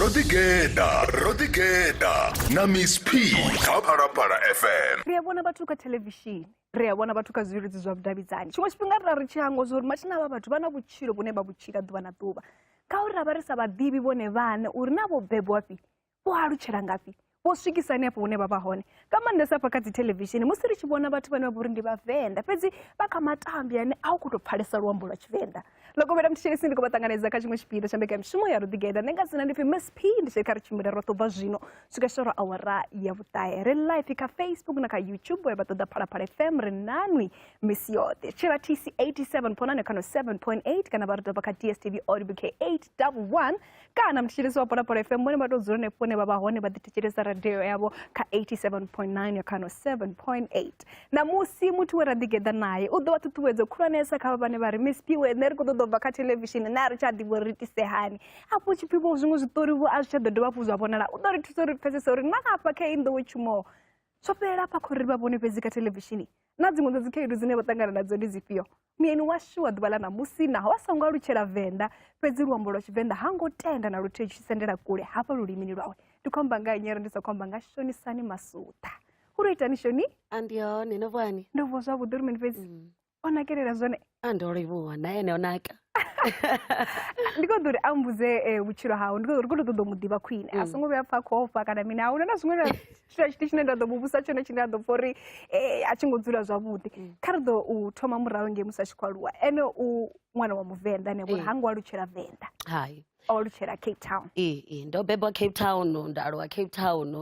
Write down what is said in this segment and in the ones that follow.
rodigeda rodigeda na miss p kha phalaphala fm ri a vhona vhathu kha thelevishini ri a vhona vhathu kha zwileludzi zwa vhudavhidzani tshiṅwe tshifhinga ri ra ri tshi hangwa zwa uri mathina avha vhathu vha na vhutshilo vhune vha vhutshila ḓuvha na ḓuvha ngauri ra vha ri sa vhaḓivhi vhone vhaṋe uri na vho bebwafhi vho alutshela ngafhi vho swikisa hanefho hune vha vha hone nga maanḓesa hafha kha dzi thelevishini musi ri tshi vhona vhathu vhane vha vha uri ndi vhavenḓa fhedzi vha kha matambi ane a u khou tou pfhalesa luambo lwa tshivenḓa lokovhela mthetshelesi ndi khou vha ṱanganedza kha tshiṅwe tshipiḓa tsha mbekamishumo ya ruḓigeda ndi nga dzina ndi pfi msp ndi tshiri kha ri tshimbile roṱhe u bva zwino swika shoro awara ya vhuṱahe ri life kha facebook na kha youtube ya vha ṱoḓa phalaphala fm ri nanwi misi yoṱhe tshila tc 87 ponane kano 7.8 kana vha ri doba kha dstv audio k 811 kana muthetshelesi wa polapolo fm vhone vha tou dzula henefho hune vha vha hone vha ḓithetshelesa radio yavho kha 87.9 ya khano 7.8 ṋamusi muthu we ra ḓigeḓa naye u ḓo vha ṱhuṱhuwedzo khulwanesa kha vha vhane vha ri miss piwe nṋe ri khou ṱoḓa u bva kha thelevishini nṋe a ri tsha ḓivha uri ri itise hani afho tshipfi vho zwiṅwe zwiṱori vho a zwi tsha ḓo dovha hafhu zwa vhonala u ḓo ri thusa uri pfesese uri na afha kha i nḓowe tshumo zwo fhelela afha khou ri vha vhone fhedzi kha thelevishini na dziṅwe dza dzikhaedu dzine vha ṱangana nadzo ndi dzifhio muyeni washu wa ḓuvha ḽa ṋamusi naho a songo alutshela venḓa fhedzi luambo lwa tshivenḓa ha ngo tenda na luthihi tshi sendela kule hafha lulimini lwawe ndi khou amba nga nyere ndi sa khou amba nga shonisani masuṱa u ro itani shoni a ndi hone no vhani ndo vuwa zwavhuḓi uri mini fhedzi mm. o nakelela zwone a ndo livhuwa na ene o naka ndi khou ḓo uri a mbudze eh, vhutshilo hawe ndi khou ḓo uri khou tou ṱoḓa u mu ḓivha khwine a songo vhuya pfa khou ofha kana mini a huna na zwiṅwe na tshithu tshithu tshine nda ḓo mu vhusa tshone tshine a ḓo pfa uri eh, a tshi ngo dzula zwavhuḓi kha ri ḓo u thoma murahu ngei musi a tshi khou aluwa ene u ṅwana wa muvenḓa ane vhori Eh. ha ngo alutshela venḓa hai o alutshela cape town ee ee, ndo bebwa cape town nda aluwa cape town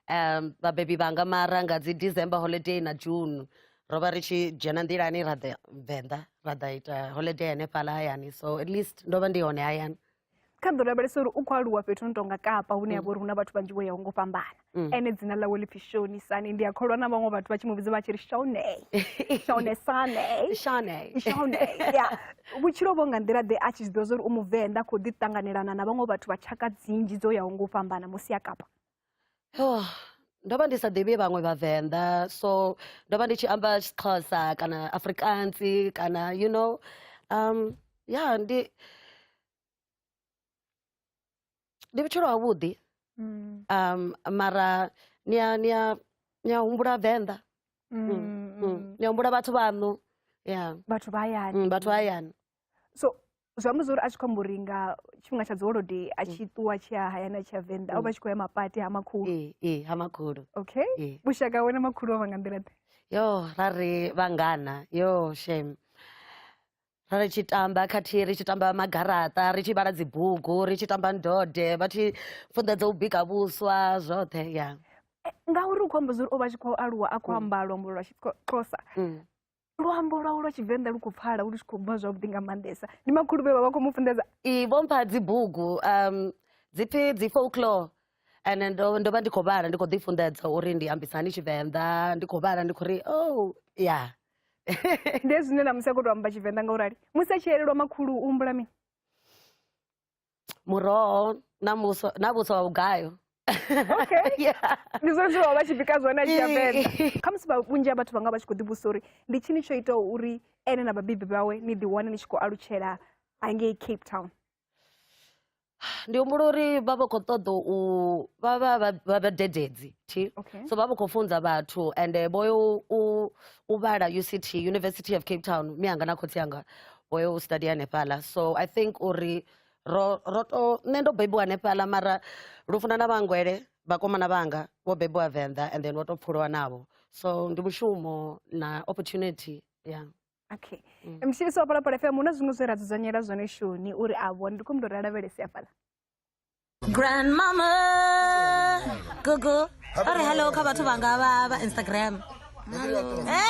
um vhabebi vhanga mara nga dzi december holiday na june ro vha ri tshi dzhena nḓilani ra ḓa venḓa ra ḓa ita holiday hanefhala hayani so at least ndo vha ndi hone hayani kha ḓo lavhelesa uri u khou aluwa fhethu no tonga kapa hune ya vha uri hu na vhathu vhanzhi vho yaho ngo fhambana mm. ene dzina ḽawe ḽi pfi shonisane ndi a kholwa na vhaṅwe vhathu vha tshi mu vhidza vha tshi ri shone shonesane shone shone ya vhutshilo vho nga nḓila ḓe a tshi zwi ḓivha zwa uri u muvenḓa khou ḓi ṱanganelana na vhaṅwe vhathu vha tshaka dzinzhi dzo yaho ngo fhambana musi a kapa oh, ndo vha ndi sa ḓivhi vhaṅwe vhavenḓa so ndo vha ndi tshi amba xixhosa kana afrikansi kana you know um ya yeah, ndi ndi vhutshilo havhuḓi mm. um mara ni a ni a ni a humbula venḓa mm, mm, mm. mm. ni a humbula vhathu vhaṋu ya vhathu vha hayani vhathu vha hayani so zwi amba zwori a tshi khou amba uri nga tshifhinga tsha dziholodei a tshi mm. ṱuwa tshi ya hayani a tshi ya venḓa o vha mm. tshi khou ya mapati ha makhulu ee eh, eh, ha makhulu okay eh. vhushaka wena makhulu o vha nga nḓila ḓe yo ra ri vhangana yo shame ra ri tshi tamba khathihi ri tshi tamba magaraṱa ri tshi vhala dzibugu ri tshi tamba ndode vha tshi funḓedza u bika vhuswa zwoṱhe ya ngauri u khou amba zwori o vha tshi khou aluwa a khou mm. amba luambo lwa xixhosa luambo lwawe lwa tshivenḓa lu khou pfala lu tshi khou bva zwavhuḓi nga maanḓesa ndi makhulu vhe vha vha khou mu funḓedza i vho mpha dzibugu um dziphi dzi folklore and ndo ndo vha ndi khou vhala ndi khou ḓi funḓedza uri ndi ambisa hani tshivenḓa ndi khou vhala ndi khou ri oh ya ndi zwine na musi a khou tou amba tshivenḓa nga u rali musi a tshi elelwa makhulu u humbula mini muroho na muswa na vhuswa ha vhugayo okay yeah. ndi zwone zwe vha vha tshi bika zwone a tshi ya venḓa kha musi vha- vhunzhi ha vhathu vha nga vha tshi khou ḓivhusa uri ndi tshini tsho itaho uri ene na vhabebi vhawe ni ḓiwane ni tshi khou alutshela hangei cape town ndi humbula uri vha vha khou ṱoḓa u vha vha vha- vha vhadededzi thi okay so vha vha khou funza vhathu ende vho yo u- u vhala uct university of cape town mianga na khotsi anga o yo u study hanefhaḽa so i think uri ro ro to nṋe ndo bebiwa hanefhaḽa mara lufuna na vhangwele vhakomana vhanga vho bebiwa venḓa and then vho to pfhuliwa navho so ndi mushumo na opportunity ya yeah. okay mm. mshisi wa palapala fm hu na zwiṅwe zwe ra dzudzanyela zwone shoni uri a vhone ndi khou mndu ri a lavhelesi afhaḽa grandmama gogo a ri hello kha vhathu vhanga vha vha instagram eh!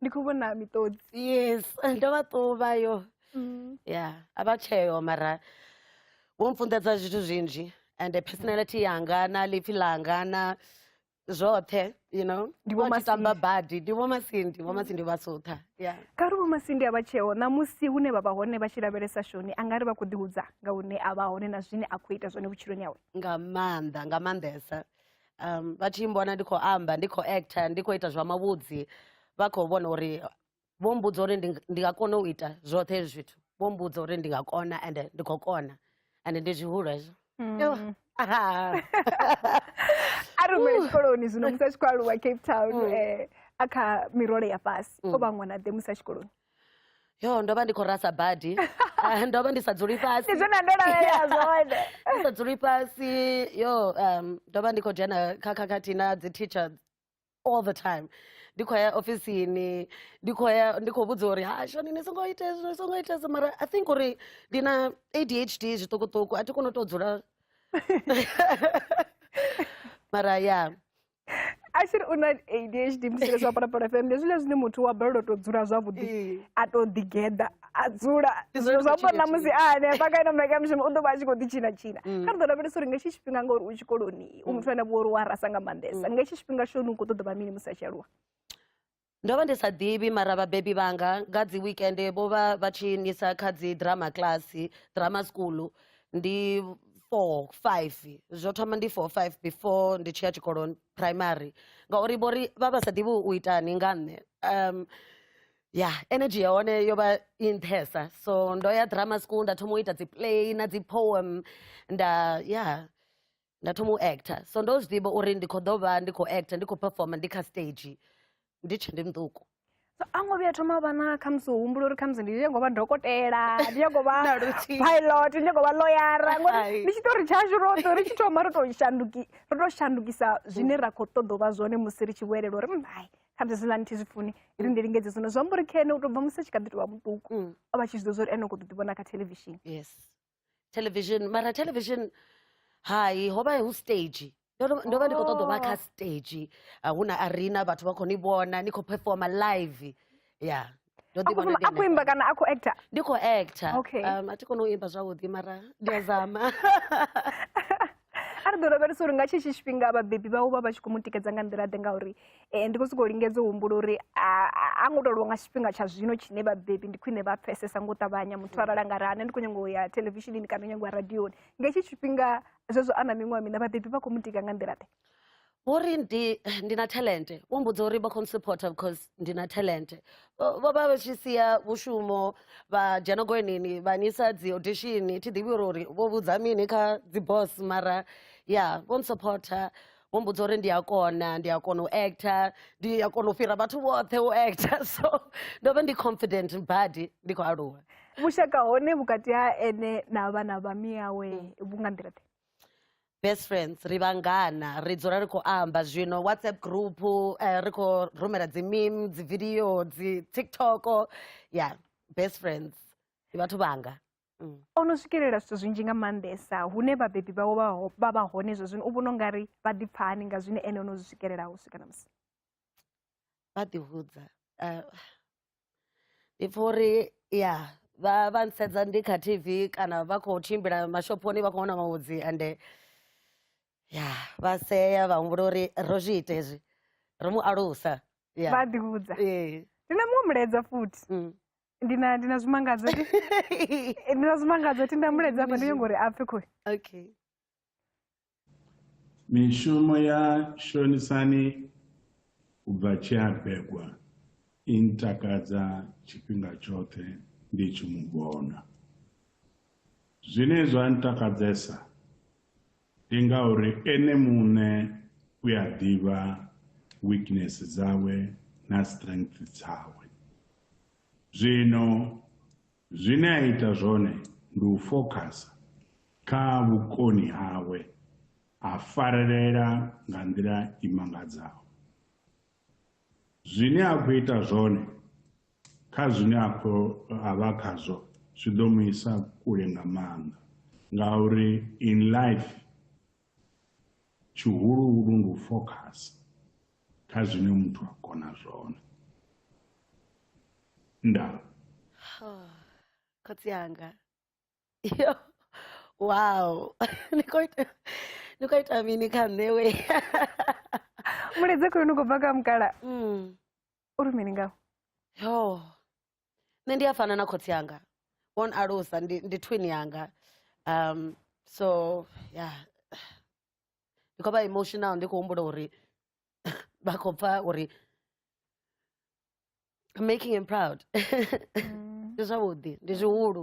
ndi khou vhona miṱodzi yes ndo vha ṱuvha yo mm. ya a vha tsheo mara wo mfunḓedza zwithu zwinzhi and personality yanga na lipfi ḽanga na zwoṱhe you know ndivhomatamba badi ndivhomasindi vhomasindi vha sutha kha ri vhomasindi a vha tsheo ṋamusi hune vha vha hone vha tshi lavhelesa shoni a nga ri vha khou ḓihudza nga hune a vha hone na zwine a khou ita zwone vhutshiloni yawe nga maanḓa nga maanḓesa um vha tshi mbona ndi khou amba ndi khou actor ndi khou ita zwa mavhudzi vha khou vhona uri vho mbudza uri ndi nga kona u ita zwoṱhe hezwi zwithu vho mbudza uri ndi nga kona and ndi khou kona and ndi zwihulu hezwo mm. a rumele tshikoloni zwino musi a tshi khou aluwa cape town mm. eh, a kha mirole ya fhasi mm. o vha ṅwana ḓe musi a tshikoloni yo ndo vha ndi khou rasa badi Ah, ndo vha ndi sa dzuli fhasi ndi zwone ndo lavhelela zwone ndi sa dzuli fhasi yo um, ndo vha ndi khou dzhena kha khakhathi na dzi teacher all the time ndi khou ya ofisini ndi khou ya ndi khou vhudzwa uri hasho ni ni songo ita hezwi ni songo ita hezwi mara i think uri ndi na adhd zwiṱukuṱuku a thi koni u tou dzula mara ya ashiri una adhd musi ri zwapara pala fm ndi zwile zwine muthu wa balelwa to dzula zwavhuḓi eh. a to ḓigeḓa a dzula zwino zwa pona musi a hanefha kaina maika mushumo u ḓo vha a tshi khou ḓi tshina tshina mm. kha ri ḓo lavhelesa uri nga hetshi tshifhinga ngauri u tshikoloni u mm. muthu ane vho uri wa rasa nga maanḓesa mm. nga hetshi tshifhinga shoni u khou ṱoḓa vha mini musi a tshi aluwa Ndo vha ndi sa ḓivhi mara vhabebi vhanga nga dzi weekend vho vha vha tshi nisa kha dzi drama class drama school ndi four five zwo thoma ndi four five before ndi tshi ya tshikoloni primary ngauri vho ri vha vha sa ḓivhi u itani nga nṋe um ya energy ya hone yo vha i nṱhesa so ndo ya drama school nda thoma u ita dzi play na dzi poem nda ya nda thoma u actor so ndo zwi ḓivha uri ndi khou ḓo vha ndi khou actor ndi khou performer ndi kha stage ndi tshe ndi muṱuku so a ngo vhuya thoma vha na khamusi u humbula uri khamusi ndi nyago vha dokotela ndi nyago vha pilot ndi nyago vha loyara ngori ndi tshiṱori tshashu roṱhe ri tshi thoma ro to shanduki ro to shandukisa zwine ra khou ṱoḓa u vha zwone musi ri tshi vhuelela uri mbai khamusi zwi lani thi zwi funi ri ndi lingedze zwino zwi amba uri khene u to bva musi a tshi kha ḓi to vha muṱuku mm. o vha tshi zwi ḓo zwa uri ene u khou ḓo ḓi vhona kha television yes television mara television hai ho vha hu stage ndo ndo- ndo vha ndi khou ṱoḓa u vha kha Oh. stage ah, hu na arena vhathu vha khou ni vhona ni khou performa live ya ndo a ḓi khou vhona ndi a khou imba hanefhaḽa. kana a khou actor ndi khou actor Okay. um, a thi koni u imba zwavhuḓi mara ndi a zama a ri ḓo lavhelesa uri nga tshetsho tshifhinga vhabebi vhawe vha vha tshi khou mu tikedza nga nḓila ḓe ngauri um ndi khou sokou lingedza u humbula uri a ngo tou lwa nga tshifhinga tsha zwino tshine vhabebi ndi khwine vha pfesesa nga u ṱavhanya muthu arali a nga ri ane ndi khou nyanga u ya televishinini kana u nyanga u ya radioni nga hetshi tshifhinga zwezwo a na miṅwaha mina vhabebi vha khou mu tika nga nḓila ḓe vho ri ndi, ndi na talente vho mbudza uri vha khou supporter because ndi na talente vho vha vha tshi sia vhushumo vha dzhena goenini vha nisa dzi audition thi ḓivhi uri uri vho vhudza mini kha dzi boss mara ya vho supporter vho mbudza uri ndi a kona ndi a kona u actor ndi a kona u fhira vhathu vhoṱhe u actor so ndo vha ndi confident badi ndi khou aluwa vhushaka hone vhukati ha ene na vhana vha miyawe vhu nga nḓila ḓe best friends ri vhangana ri dzula ri khou amba zwino whatsapp group eh, ri khou rumela dzi meme dzi video dzi tiktok ya best friends ndi vhathu vhanga mm. o no swikelela zwithu zwinzhi nga maanḓesa hune vhabebi vhawo vha vha hone zwo zwino u vhona u nga ri vha ḓipfani nga zwine ene o no zwi swikelela u swika na musi vha ḓihudza eh, ndi pfha uri ya vha vha nsedza ndi kha tv kana vha khou tshimbila mashophoni vha khou wana mavhudzi ande ya vha sea vha humbula uri ro zwi ita hezwi ro mu alusa ya vha ḓi vhudza ee ndi na muṅwe mulaedza futhi mm. ndi na ndi na zwimangadzo ndi na zwimangadzo ti nda mulaedza hafha ndi nyongo uri a pfhe khoi okay Mishumo ya Shonisani u bva tshe a begwa i ntakadza tshifhinga tshoṱhe ndi tshi mu vhona. Zwine zwa ntakadzesa ndi ngauri ene muṋe u a ḓivha weakness dzawe na strength dzawe. Zwino Zwine a ita zwone ndi u fokhasa kha vhukoni hawe, a farelela nga nḓila i mangadzaho. Zwine a khou ita zwone kha zwine a khou a vha khazwo zwi ḓo mu isa kule nga maanḓa, ngauri in life Tshihuluhulu ndi u fokhasa kha zwine muthu a kona zwone. Ndaa. Khotsi anga. Yo. Wow. Ni khou ita ni khou ita mini kha nṋe we. Mulidze khulu ni khou bva kha mukala. Mm. Uri mini ngaho? Yo. nṋe ndi a fana na khotsi anga vho n alusa ndi ndi twin yanga um so ya ndi khou vha emotional ndi khou humbula uri vha khou pfa uri I'm making him proud ndi zwavhuḓi ndi zwihulu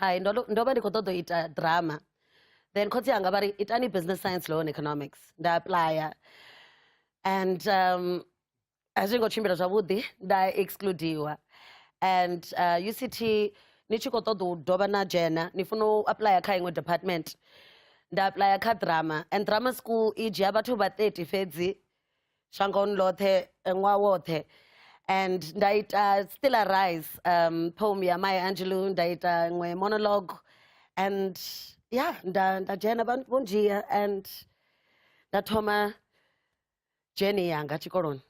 hai ndo ndo vha ndi khou ṱoḓa u ita drama then khotsi anga vha ri itani business science law and economics nda applya and um, a zwi ngo tshimbila zwavhuḓi nda excludiwa and uh, uct ni tshi khou ṱoḓa u dovha na dzhena ni funa u applya kha iṅwe department nda applya kha drama and drama school i dzhia vhathu vha 30 fhedzi shangoni ḽoṱhe eh, ṅwaha woṱhe and nda ita still arise um, poem ya mai angelo nda ita ṅwe monologue and ya nda nda dzhena vha vho ndzhia and nda thoma dzheni yanga tshikoloni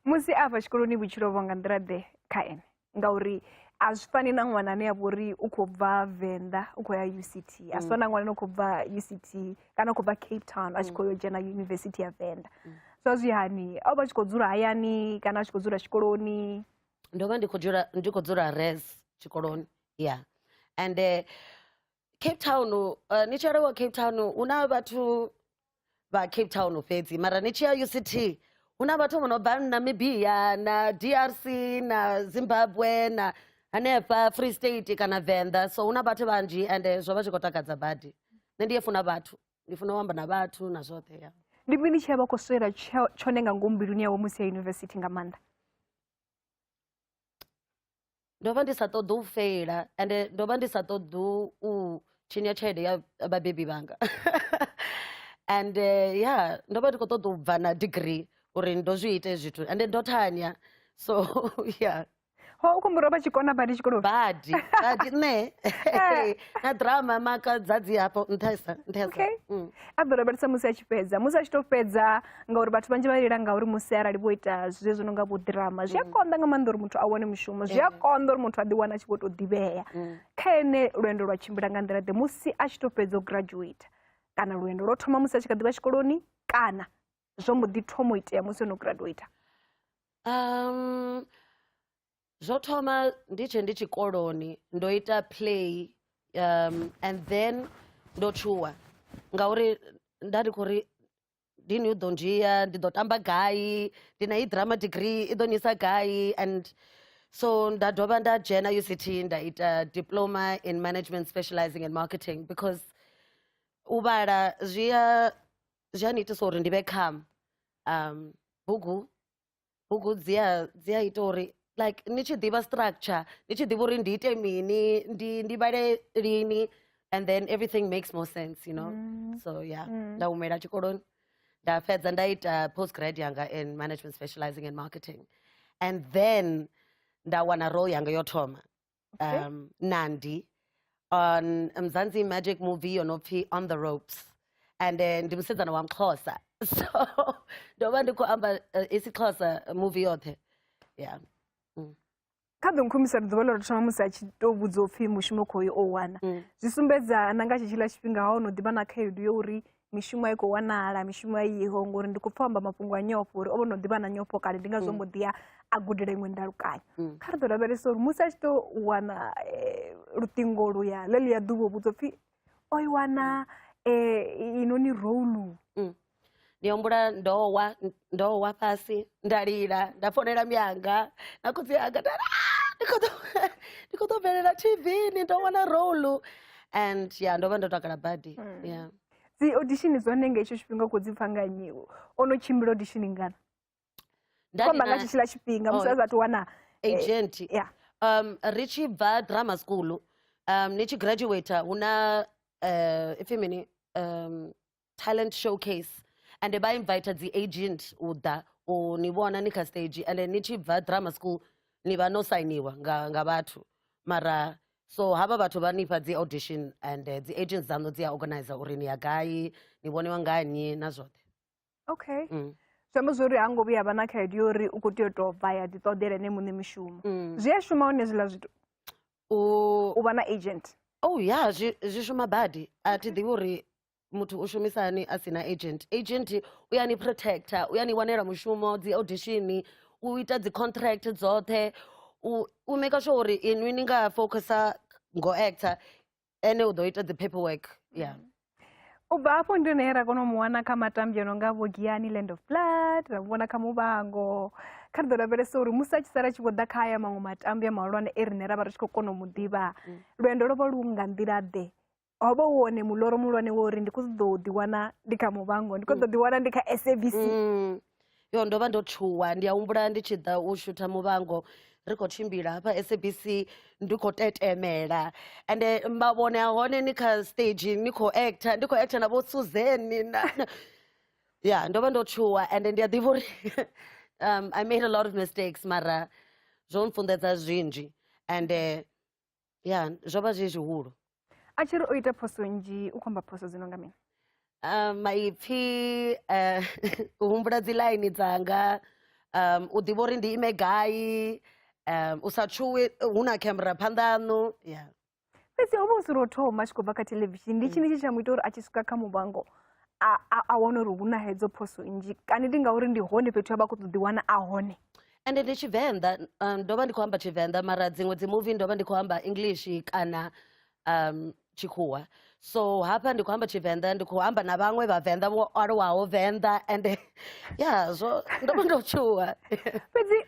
musi a fha tshikoloni vhutshilo vho nga nḓila ḓe kha ene ngauri a zwi fani na ṅwana ane a vha uri u khou bva venḓa u khou ya uct a zwi fani na ṅwana ane u khou bva uct kana u khou bva cape town a tshi khou yo dzhena yunivesithi ya venḓa so zwi hani a vha tshi khou dzula hayani kana a tshi khou dzula tshikoloni ndo vha ndi khou dzula res tshikoloni ya ende cape town uh, ni tshi arewa cape town hu na vhathu vha cape town fhedzi mara ni tshi ya uct hu na vhathu vho no bva namibia na drc na zimbabwe na hanefha free state kana venḓa so hu na vhathu vhanzhi and eh, zwo vha zwi khou takadza badi nṋe ndi ye funa vhathu ndi funa u amba na vhathu na zwoṱhe ya ndi mini tshi vha khou swela tsho- tshone nga ngomu mbiluni yawe musi ya yunivesithi nga maanḓa ndo vha ndi sa ṱoḓi u feila ende ndo vha ndi sa ṱoḓi u tshinya tshelede ya vhabebi vhanga and eh, ya yeah, ndo vha ndi khou ṱoḓa u bva na degree uri ndo zwi ite zwithu ende ndo thanya so yeah ho u kumbura vha tshikona badi tshikoloni badi badi nṋe eh. na drama maka dzadzi hafho nṱhesa nṱhesa a ḓo lavhelesa musi a tshi fhedza musi a tshi to fhedza ngauri vhathu vhanzhi vha lila ngauri musi arali vho ita zwe zwi no nga vhoḓirama zwi a mm. konḓa nga maanḓa uri muthu a wane mushumo zwi a eh. konḓa uri muthu a ḓiwana a tshi vho tou ḓivhea mm. kha ene lwendo lwa tshimbila nga nḓila ḓe musi a tshi to fhedza u graduate kana lwendo lwo thoma musi a tshi kha ḓivha tshikoloni kana zwo mbo ḓi thoma u itea musi o no graduate um zwo thoma ndi tshe ndi tshikoloni ndo ita play um and then ndo tshuwa ngauri nda ndi khou ri ndini u ḓo ndzhia ndi ḓo tamba gai ndi na i drama degree i ḓo nisa gai and so nda dovha nda dzhena uct nda ita diploma in management specializing in marketing because u vhala zwi a zwi a ni itisa uri ndi vhe kham um bugu bugu dzi a dzi a ita uri like ni tshi ḓivha structure ni tshi ḓivha uri ndi ite mini ndi ndi vhale lini and then everything makes more sense you know mm. so yeah mm. nda humela tshikoloni nda fhedza nda ita post grad yanga in management specializing in marketing and then nda wana role yanga yo thoma okay. um, nandi on mzansi magic movie yonopfi on the ropes and then ndimusidzana wamxhosa so ndoba ndikuhamba uh, isixhosa movie yothe yeah mm. kha ḓo nkhumbisa ri ḓuvha ḽo ri thoma musi a tshi tou vhudzwa upfhi mushumo khoyo o wana mm. zwi sumbedza na nga tshitshila tshifhinga ha o no ḓivha na khaedu yo uri mishumo a i khou wanala mishumo a iho ngori ndi khou pfa amba mafhungo a nyofho uri o vho no ḓivha na nyofho kale ndi ngazwo mbo ḓi ya a gudela iṅwe ndalukanyo kha ri ḓo lavhelesa uri musi a tshi tou wana eh, luṱingo luya ḽe luya ḓuvha u vhudzwa pfhi o i wana eh, i- inoni roulu ndi humbula ndo wa ndo wa fhasi nda lila nda fonela mianga na khotsi anga nda ri, "Ah, ndi khou ḓo- ndi khou ḓo bvelela tv ni ndo wana role and ya ndo vha ndo takala badi Mm. ya dzi audition dza hone nga hetsho tshifhinga u khou dzi pfa nga nnyi u? o no tshimbila audition ngana Nda ndi kwamba nga na tshetshiḽa tshifhinga musi Oh. a sathu wana eh, agent ya um ri tshi bva drama school um ni tshi graduator hu na eh, ipfi mini um talent showcase and vha invite dzi agent u ḓa u ni vhona ni kha stage and ni tshi bva drama school ni vha no sainiwa nga, nga vhathu mara so havha vhathu vha nifha dzi audition and uh, dzi agents dzaṋu dzi a organize uri ni ya gai ni vhoniwa ngani na zwoṱhe okay mm. zwi amba zwori ha ngo vhuya vha na khaedu yo uri u khou tea u tou bva ya ḓiṱoḓela ene muṋe mishumo mm. zwi a shuma hone zwiḽa zwithu u vha na agent oh ya yeah, zwi shuma badi a thi ḓivhi uri muthu u shumisa hani a sina agent agent u ya ni protector u ya ni wanela mushumo dzi audition u ita dzi contract dzoṱhe u u maker sure uri inwi ni nga focusa ngo actor ene u ḓo ita dzi paperwork yeah u bva afho ndi hone ra kona u mu wana kha matambi ono nga vho giani land of blood ra mu vhona kha muvhango kha ri ḓo lavhelesa uri musi a tshi sala a tshi vho ḓa kha aya maṅwe matambi a mahulwane e riṋe ra vha ri tshi khou kona u mu ḓivha lwendo lwo vha lu nga nḓila ḓe ho vha hu wone muloro muhulwane wa uri ndi khou ṱoḓa u ḓiwana ndi kha muvhango ndi khou ṱoḓa ḓiwana ndi kha sabc Mm. yo ndo vha ndo tshuwa ndi a humbula ndi tshi ḓa u shutha muvhango ri khou tshimbila hafha sabc ndi khou tetemela ende mavhone a hone ni kha stage ni khou actor ndi khou actor na vho suzeni na na- ya ndo vha ndo tshuwa ende ndi a ḓivha uri um, i made a lot of mistakes mara zwo mfunḓedza zwinzhi ende ya zwo vha zwi zwihulu a tshi ri o ita phoso nnzhi u khou amba phoso dzi no nga mini Ah, maipfi eh, u humbula dzi ḽaini dzanga um, u ḓivha uri ndi ime gai um, u sa tshuwi hu na camera phanḓa aṋu ya fhedzi o vha u si lwo thoma a tshi khou bva kha thelevishini ndi tshini tshi tsha mu ita uri a tshi swika kha muvhango a, a, a wana uri hu na hedzo phoso nnzhi kana ndi ngauri ndi hone fhethu a vha khou ṱoḓi wana a hone ende ndi tshivenḓa um, ndo vha ndi khou amba tshivenḓa mara dziṅwe dzi movie ndo vha ndi khou amba english kana um, tshikhuwa so hafha ndi khou amba tshivenḓa ndi khou amba na vhaṅwe vhavenḓa vho aluwaho venḓa ende ya zwo ndo vha ndo tshuwa fhedzi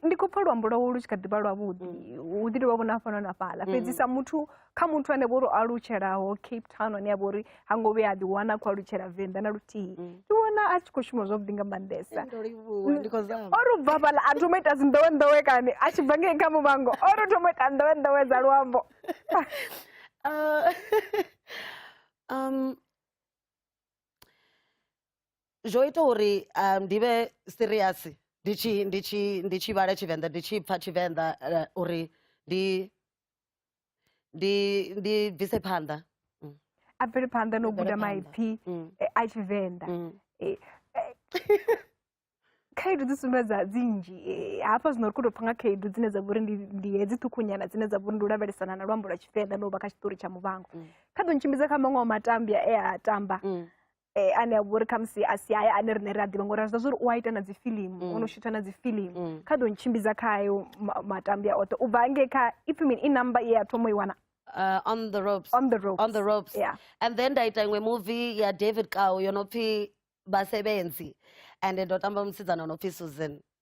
ndi khou pfa luambo lwawo lu tshi kha ḓivha lwavhuḓi mm. u ḓi tovha vhona fhano na fhaḽa mm. fhedzi sa muthu kha muthu ane vho ri alutshelaho cape town ane a vha uri ha ngo vhuya a ḓi wana a khou alutshela venḓa na luthihi mm. ndi vhona a tshi khou shuma zwavhuḓi nga maanḓesa o ri bva fhala a thoma ita dzinḓowenḓowe kani a tshi bva ngei kha muvhango o ri thoma ita nḓowenḓowe dza luambo uh, um, zwo ita uri um, ndi vhe serious ndi tshi vhala tshivenḓa ndi tshi pfa tshivenḓa uh, uri ndi ndi ndi bvise phanḓa mm. a bvele phanḓa no guda maipfi mm. eh, a tshivenḓa mm. eh, eh, khaedu dzi sumbedza dzi nnzhi hafha zwino ri khou tou pfa nga khaedu dzine dza vhori ndi hedzi ṱhukhunyana dzine dza vhori ndi u lavhelesana na luambo lwa tshivenḓa no vha kha tshiṱori tsha muvhango kha ḓo ntshimbidza kha maṅwe wa matambya e a tamba eh, ane a vha uri khamusi a si aye ane rine ri a ḓivha ngori a zwi zwa uri u a ita na dzifilimu mm. o no shutha na dzifilimu mm. kha ḓo ntshimbidza kha ayo matambi a oṱhe u bva ngei kha if mean i number ye ya thoma i wana Uh, on the ropes on the ropes on the ropes yeah and then nda ita iṅwe movie ya david kao yo no pfi basebenzi and ndo tamba musidzana o no pfi susan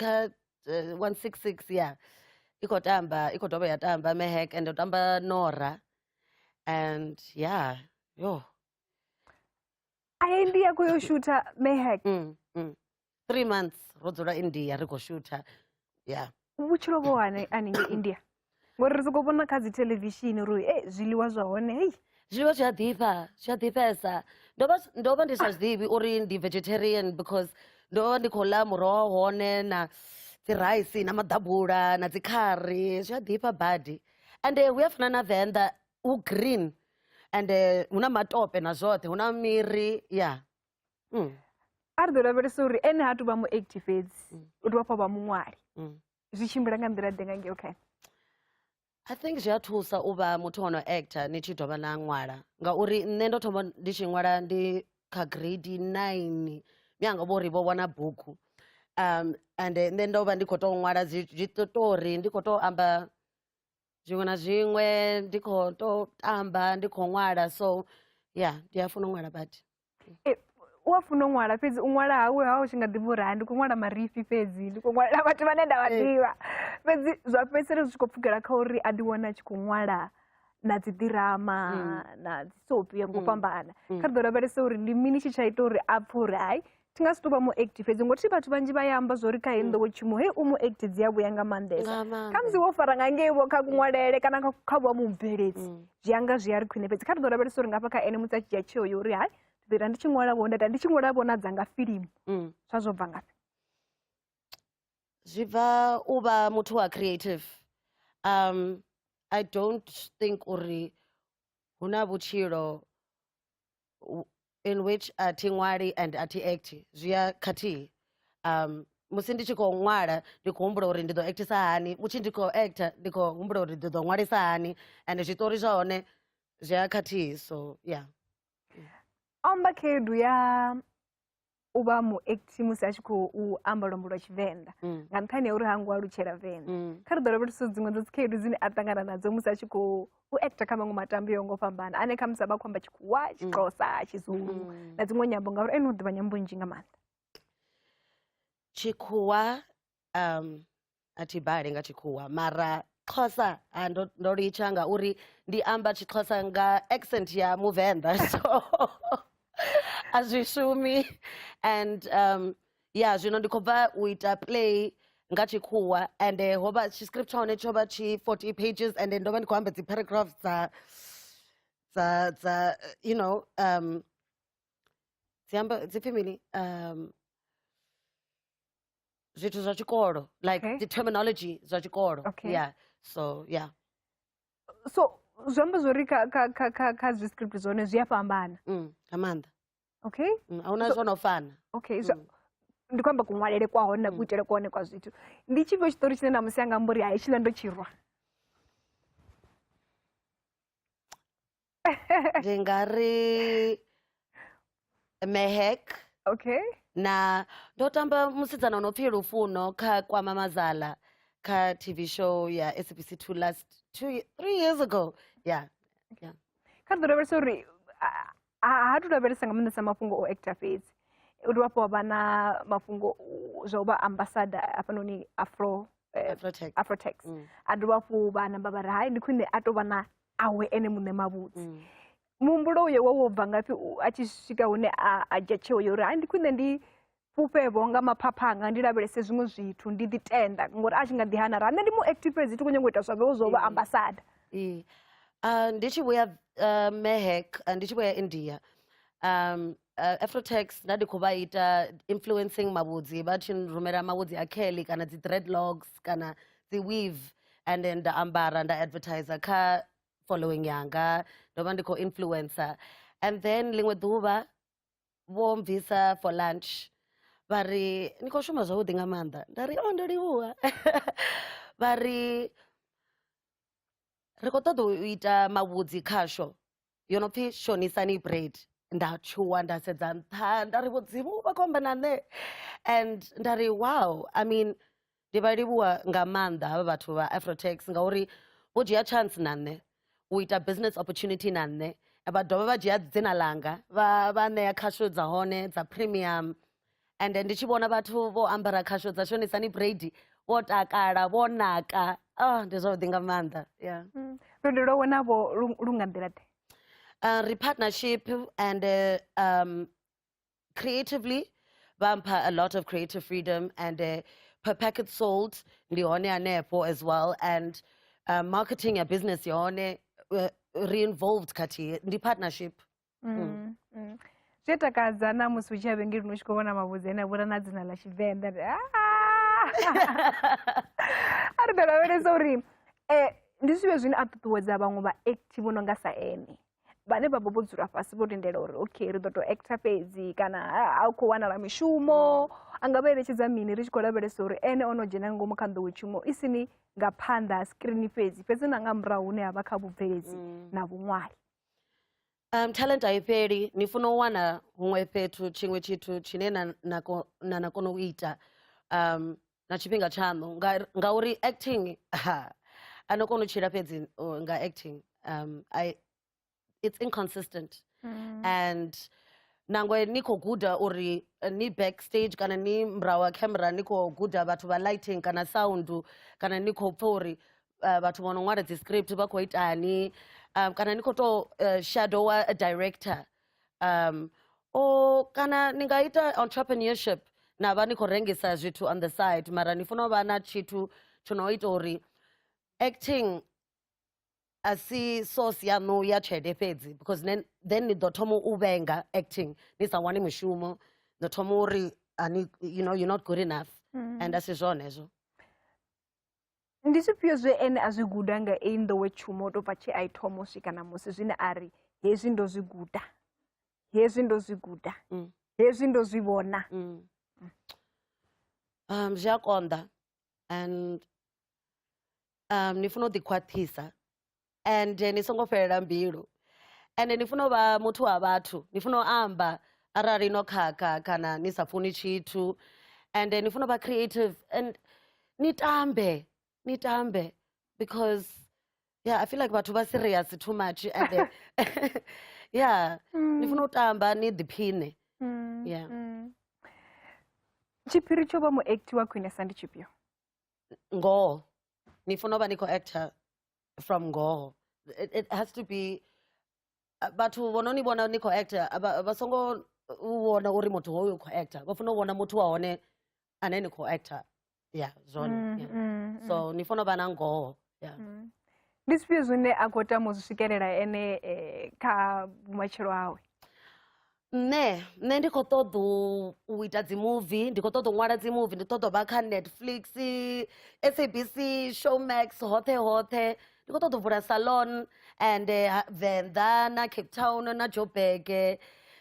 kha uh, 166 ya i khou tamba i khou dovha ya tamba mehek and u tamba nora and yeah yo a india khou yo shutha mehek mm, mm. three months ro dzula india ri khou shutha yeah vhutshilo vho hane haningei india ngori ri soko vhona kha dzi televishini uri e zwiḽiwa zwa hone hei zwiḽiwa zwi a ḓifha zwi a ḓifhesa ndo vha ndo vha ndi sa zwiḓivhi uri ndi vegetarian because ndo vha ndi khou ḽa muroho hone na dzi rice na maḓabula na dzi khari zwi a ḓifha badi ende hu a fana na venḓa hu green ende hu na matope na zwoṱhe hu na miri ya yeah. mm. a ri ḓo lavhelesa uri ene ha tuvha mu active fhedzi mm. u tovha fha vha muṅwali mm. zwi tshimbila nga nḓila ḓe nga ngeo khae i think zwi a thusa u vha muthu wa no actor ni tshi dovha na ṅwala ngauri nṋe ndo thoma ndi tshi ṅwala ndi kha grade nine mianga vho ri vho wana bugu um and nṋe ndo vha ndi khou tou ṅwala zwiṱotori ndi khou tou amba zwiṅwe na zwiṅwe ndi kho to tamba ndi kho ṅwala so ya ndi a funa u ṅwala badi eh, u a funa u ṅwala fhedzi u ṅwala hawe ha u tshi nga ḓivha uri ndi khou ṅwala marifhi fhedzi ndi khou ṅwala vhathu vhane nda vha eh. ḓivha fhedzi zwa fhedzisela zwi tshi khou pfukela kha uri a ḓiwana a tshi khou ṅwala na dzi ḓirama mm. na dzi sopi ya ngo mm. fhambana mm. kha ri ḓo lavhelesa uri ndi mini tshi tsha ita uri a pfhe uri hai thi nga si tou vha mu act fhedzi ngothi vhathu vhanzhi vha ya amba zwo ri kha heyi nḓowetshumo hei u mu act dzi a vhuya nga maanḓesa Nga maanḓa. kha musi wo fara nga ngei vho kha kunwalele kana kha- kha vha mubveledzi zwi anga zwi a ri khwine fhedzi kha ri ḓo lavhelesa uri ngafha kha ene musi a tshi dzhia tsheo yo uri hai ndi ḓo ita ndi tshi ṅwala vho nda ita ndi tshi ṅwala vho na dzanga filimu Mm. zwa zwo bva ngafhi zwi bva u vha muthu wa creative um i don't think uri hu na vhutshilo in which a thi ṅwali and a thi act zwi ya khathihi um musi ndi tshi khou ṅwala ndi khou humbula uri ndi ḓo actisa hani mutshi ndi khou actor ndi khou humbula uri ndi ḓo ṅwalisa hani and zwiṱori zwa hone zwi a khathihi so yeah amba khaedu ya u vha muekti musi a tshi khou amba luambo lwa tshivenḓa mm. nga nṱhani ya uri ha ngo alutshela venḓa mm. kha ri ḓo lavhelesa dziṅwe dza dzikhaedu dzine a ṱangana nadzo musi a tshi khou u acta kha maṅwe matambo yo ngo fhambana ane kha musi a vha khou amba tshikhuwa mm. tshixhosa tshizulu na dziṅwe nyambo ngauri ene u ḓivha nyambo nzhi nga maanḓa tshikhuwa um a thi bale nga tshikhuwa mara xhosa ah, ndo, ndo litsha ngauri ndi amba tshixhosa nga accent ya muvenḓa so a zwi shumi and um ya zwino ndi khou bva u ita play nga tshikhuwa and eh, ho vha tshiscript tsha hone tsho vha tshi 40 pages and eh, ndo vha ndi khou amba dzi paragraphs dza dza dza eh, you know um dzi amba dzi pfi mini um zwithu zwa tshikolo like okay. the terminology zwa tshikolo okay. yeah so yeah so zwi amba zwori kha kha kha kha kha zwi script zwone zwi a fhambana mm nga maanḓa okay mm, a huna zwo no fana okay zwa mm. ndi kwamba kunwalele kwa hone na mm. kuitele kwa hone kwa zwithu ndi tshifhio tshitori tshine na musi anga mbori hai tshila ndo tshirwa ndi nga ri mehek okay na ndo tamba musidzana unopfi lufuno kha kwama mazala kha tv show ya sabc 2 last two, ye- three years ago yeah kha ḓo lavhelesa uri a- a- ha tu lavhelesa nga maanḓesa mafhungo o actor fhedzi u dovha hafhu wa vha na mafhungo u- zwa u vha ambasada hafhanoni afro eh, afrotech afrotex Mm. a dovha hafhu vha namba vha ri hai ndi khwine a tou vha na awe ene muṋe mavhudzi mm. muhumbulo uyo wo wo bva ngafhi a tshi swika hune a dzhia tsheo yo uri hai ndi khwine ndi fhufhevho nga maphapha anga ndi lavhelese zwiṅwe zwithu ndi ḓi tenda ngori a tshi nga ḓi hana ra nṋe ndi mu active fhedzi ti khou nyanga u ita zwavhewo zwo vha mm. ambasada mm. ah, ndi tshi vhuya ah, mehek ah, ndi tshi vhuya india um Uh, afrotax nda ndi khou vha ita influencing mavhudzi vha tshi rumela mavhudzi a kelly kana dzi dreadlocks kana dzi weave and then nda ambara nda advertiser kha following yanga ndo vha ndi khou influencer and then ḽiṅwe ḓuvha vho mbvisa for lunch vha ri ni khou shuma zwavhuḓi nga maanḓa nda ri o ndo livhuwa vha ri ri khou ṱoḓa u ita mavhudzi khasho yo no pfi shonisani bread nda tshuwa nda sedza nṱha nda ri vhudzimu vha khou amba na nṋe and nda ri wow i mean ndi vha livhuwa nga maanḓa havha vhathu vha afrotax ngauri vho dzhia chance na nṋe u ita business opportunity na nṋe vha dovha vha dzhia dzina langa vha vha ṋea khasho dza hone dza premium and ndi tshi vhona vhathu vho ambara khasho dza shonisani brady vho takala vho naka oh ndi zwavhuḓi nga maanḓa yeah mm. lwendo lwawe navho lu nga nḓila ḓe uh, ri partnership and uh, um, creatively vha mpha a lot of creative freedom and uh, per packet sold ndi hone hanefho as well and uh, marketing ya business yone uh, re-involved khathihi ndi partnership Mm, Mm. mm. zwi a takadza na musi u tshi ya vhengelini u tshi khou vhona mavhudzi ane a vhura na dzina ḽa tshivenḓa ndi, "Ah!" a ri ḓo lavhelesa uri um ndi zwivhe zwine a ṱuṱuwedza vhaṅwe vha active vho no nga sa ene vhane vha vha vho dzula fhasi vho lindela uri okay ri ḓo tou actor fhedzi kana ha- ha u khou wanala mishumo a nga vha eletshedza mini ri tshi khou lavhelesa uri ene o no dzhena nga ngomu kha nḓowetshumo i si ni nga phanḓa ha skrini fhedzi fhedzi na nga murahu hune ha vha kha vhubveledzi na vhuṅwali Um, talent a i fheli ni funa u wana huṅwe fhethu tshiṅwe tshithu tshine na, na, ko- na, na kona u ita um, na tshifhinga tshaṋu Nga- ngauri acting ha, a no kona u tshila fhedzi uh, nga acting um, I, it's inconsistent Mm. and nangwe ni khou guda uri eh, ni backstage kana ni murahu ha camera ni khou guda vhathu vha lighting kana sound kana ni khou pfa uri uh, vhathu vho no ṅwala dzi script vha khou itani um, kana ni khou tou uh, shadowa a director um, o kana ni nga ita entrepreneurship na vha ni khou rengisa zwithu on the side mara ni funa u vha na tshithu tsho no ita uri acting a si source yaṋu ya tshelede fhedzi because then, then ni ḓo thoma u vhenga acting ni sa wani mushumo ni thoma uri you know you're not good enough mm. and a si zwone hezwo Ndi zwifhio zwe ene a zwi guda nga eyi nḓowetshumo u tou bva tshe a i thoma u swika ṋamusi zwine a ri hezwi ndo zwi guda hezwi ndo zwi guda mm. hezwi ndo zwi vhona mm. um, zwi a konḓa and um, ni funa u ḓikhwaṱhisa and ni songo fhelela mbilu and ni funa u vha muthu wa vhathu ni funa u amba arali no khakha kana ni sa funi tshithu and ni funa u vha creative and ni tambe ni tambe because yeah i feel like vhathu vha serious too much and then, yeah mm. ni funa u tamba ni ḓiphine mm. yeah mm. tshiphiri tsho vha muacti wa khwinesa ndi tshifhio ngoho ni funa u vha ni khou actor from ngoho it, it has to be uh, vhathu vho no ni vhona ni khou actor a vha vha songo u vhona uri muthu hoyu u khou actor vha funa u vhona muthu wa hone ane ni khou actor ya zwone Mm, yeah. mm, mm. so ni funa u vha na ngoho yeah. Mm. ndi zwifhio zwine a khou tama u zwi swikelela ene eh, kha vhumatshelo awe nṋe nṋe ndi khou ṱoḓa u ita dzi muvi ndi khou ṱoḓa u ṅwala dzi muvi ndi ṱoḓa u vha kha netflix sabc showmax hoṱhe hoṱhe ndi khou ṱoḓa u vula salon and eh, ha- venḓa na cape town na joburg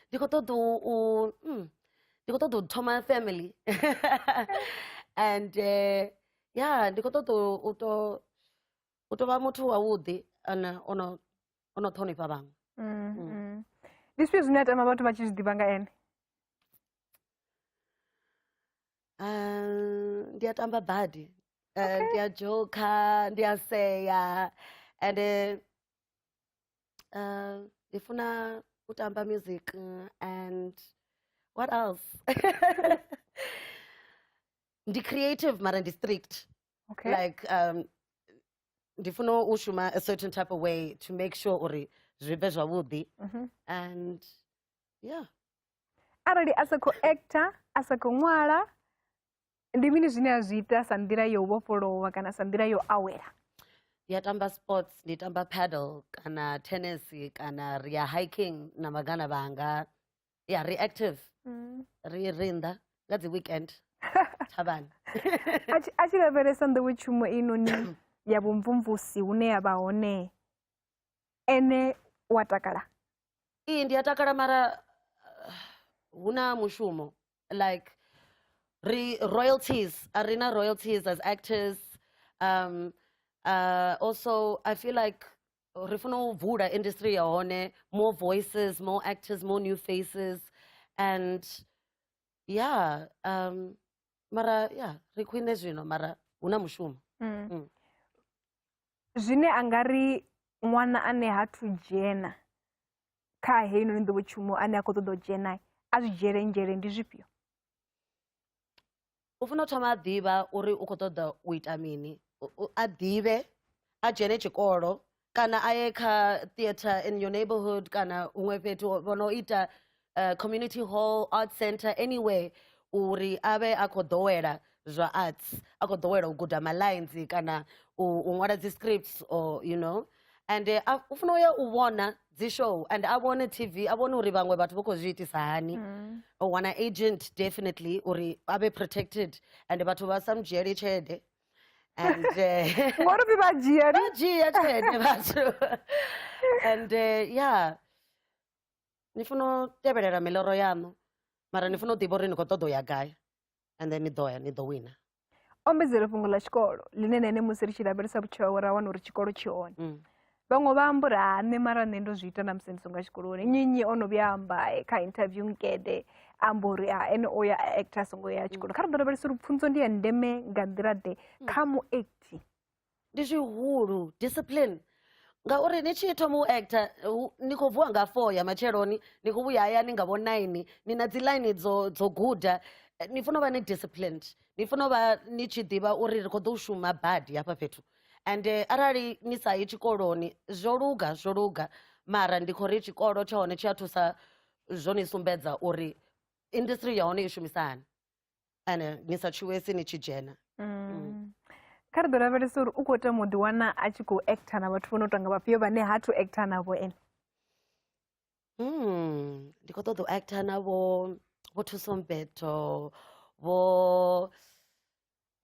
ndi khou ṱoḓa u u- mm, ndi khou ṱoḓa u thoma family and eh, ya ndi khou ṱoḓa u- u to u to vha muthu wavhuḓi ana ono o no ṱhonifha vhaṅwe mm, mm. mm. ndi zwifhio zwine a tama vhathu vha tshi zwi ḓivha nga ene ah, ndi a tamba badi eh, ndi a dzhokha ndi a sea and eh, ndi funa u tamba music and what else ndi creative mara ndi strict okay. like um, ndi funa u shuma a certain type of way to make sure uri zwi vhe zwavhuḓi mhm. and yeah arali a sa khou actor a sa khou ṅwala ndi mini zwine a zwi ita sa nḓila yo vhofholowa kana sa nḓila yo awela ndi a tamba sports ndi tamba paddle kana tennis kana ri ya hiking na magana vhanga ya ri active mm. ri ri nnḓa nga dzi weekend thavhani a tshi lavhelesa nḓowetshumo inoni ya vhumvumvusi hune ya vha hone ene wa takala iyi ndi a takala mara uh, hu na mushumo like ri royalties a ri na royalties as actors um uh, also i feel like ri funa u vula industry ya hone more voices more actors more new faces and yeah um mara yeah ri khwine zwino mara hu na mushumo mm. Mm. zwine a nga ri ṅwana ane ha thu dzhena kha heinoni nḓowetshumo ane a khou ṱoḓa u dzhena a zwi dzhiele nzhele ndi zwifhio u funa u thoma a ḓivha uri u khou ṱoḓa u ita mini a ḓivhe a dzhene tshikolo kana a ye kha theatre in your neighborhood kana huṅwe fhethu vho no ita uh, community hall art center anywhere uri a vhe a khou ḓowela zwa arts a khou ḓowela u guda malines kana u ṅwala dzi scripts or you know and uh, u funa u ya u vhona dzi show and a vhone tv a vhone uri vhaṅwe vhathu vho khou zwi itisa hani mm. o wana agent definitely uri a vhe protected and vhathu vha sa mu dzhieli tshelede and eh, ngori pfi vha dzhia vha dzhia tshelede vhathu and eh, yeah ni funa u tevhelela miloro yaṋu mara ni funa u ḓivha uri ni khou ṱoḓa u ya gai and then ni ḓo ya ni ḓo wina ombedzele fhungo ḽa tshikolo ḽine na ene musi ri tshi lavhelesa vhutshilo hawe ra wana uri tshikolo tshi hone mm. vhaṅwe vha amba uri ha nṋe mara nṋe ndo zwi ita na musi ndi songa tshikoloni nnyi nnyi o no vhuya amba eh, kha interview nkede amba uri ha ene o ya actor a songo ya tshikolo mm. kha ri ḓo lavhelesa uri pfunzo ndi ya ndeme nga nḓila ḓe mm. kha muacti ndi zwihulu discipline ngauri ni tshi thoma u actor ni khou vuwa nga four ya matsheloni ni khou vhuya hayani nga vho nine ni na dzi line dzo dzo guda eh, ni funa u vha ni disciplined ni funa u vha ni tshi ḓivha uri ri khou ḓo shuma badi hafha fhethu and eh, arali ni sa yi tshikoloni zwo luga zwo luga mara ndi khou ri tshikolo tsha hone tshi a thusa zwo ni sumbedza uri industry ya hone i shumisa hani ane ni sa tshuwesi ni tshi dzhena mm. mm. kha ri ḓo lavhelesa uri u khou tama u ḓiwana a tshi khou acta na vhathu vho no tonga vhafhio vhane ha thu acta navho ene mm, ndi khou ṱoḓa u acta navho vho thusombeto vho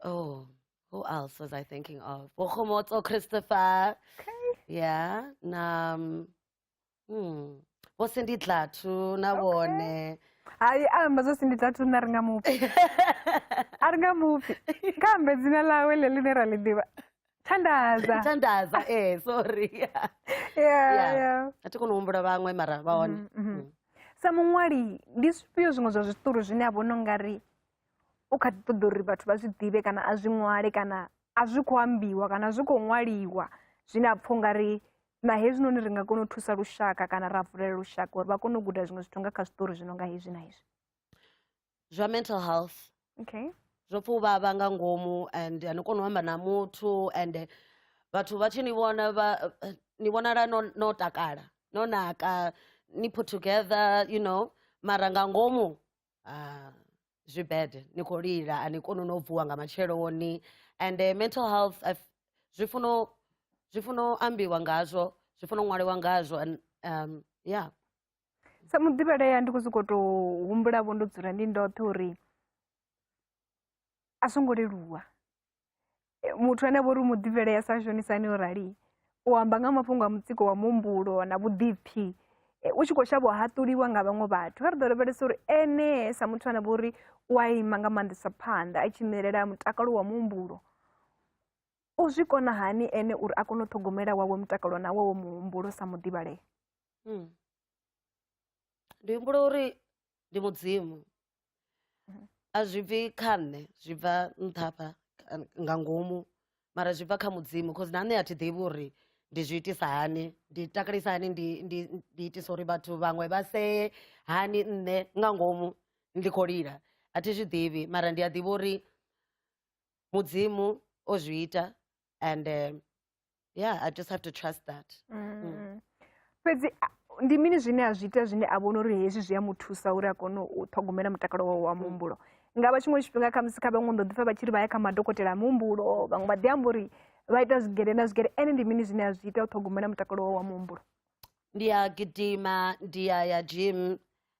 oh who else was i thinking of vho khomotso christopher okay. yeah na um, Hmm. vho sindi dlatu na vhone hai a amba zwo sindi dlatu nṋe a ri nga mupfi a ri nga mupfi kambe dzina ḽawe ḽe ḽine ra ḽi ḓivha thandaza thandaza ee eh, sorry a thi koni u humbula vhaṅwe mara vha hone mm, mm-hmm. mm. sa muṅwali ndi zwifhio zwiṅwe zwa zwiṱori zwine a vhona nga ri u kha ḓi ṱoḓa uri vhathu vha zwi ḓivhe kana a zwi ṅwale kana a zwi khou ambiwa kana a zwi khou ṅwaliwa zwine a pfha u nga ri na hezwinoni ri nga kona u thusa lushaka kana ra vulela lushaka uri vha kone u guda zwiṅwe zwithu nga kha zwiṱori zwi no nga hezwi na hezwi zwa mental health okay zwo pfa u vhavha nga ngomu and ani koni u amba na muthu and eh, vhathu vha tshi ni vhona vha eh, ni vhonala no, no takala no naka ni put together you know mara nga ngomu uh, zwi bad ni khou lila a ni koni no vuwa nga matsheloni and uh, mental health uh, zwi funa zwi funa ambiwa ngazwo zwi funa ṅwaliwa ngazwo and um, yeah sa muḓivheleya ndi khou sokou tou humbulavo ndo dzula ndi ndoṱhe uri a songo leluwa muthu ane vhori u mu ḓivhelea sa shonisani o rali u amba nga mafhungo a mutsiko wa muhumbulo na vhuḓipfi u tshi khou shavha u haṱuliwa nga vhaṅwe vhathu vha ri ḓo lavhelesa uri ene sa muthu ane vhori u a ima nga maanḓesa phanḓa a tshi ṋelela mutakalo wa muhumbulo u zwi kona hani ene uri a kone u ṱhogomela wawe mutakalo na wawe muhumbulo sa muḓivhalea hmm. ndi humbula uri ndi mudzimu a zwi bvi kha nṋe zwi bva nṱhafha kha- nga ngomu mara zwi bva kha mudzimu cause na nṋe a thi ḓivhi uri ndi zwi itisa hani ndi takalisa hani ndi ndi ndi itisa uri vhathu vhaṅwe vha see hani nṋe nga ngomu ndi khou lila a thi zwi ḓivhi mara ndi a ḓivha uri mudzimu o zwi ita and eh, yeah i just have to trust that mm. fhedzi ndi mini zwine a zwi ita zwine a vhona uri hezwi zwi a mu thusa uri a kone u ṱhogomela mutakalo wawe wa muhumbulo nga vha tshiṅwe tshifhinga khamusi kha vhaṅwe ndo ḓipfa vha tshi ri vha ya kha madokotela a muhumbulo vhaṅwe vha ḓi amba uri vha ita zwigere na zwigere ene ndi mini zwine a zwi ita u ṱhogomela mutakalo wawe wa muhumbulo ndi ya gidima ndi ya ya gym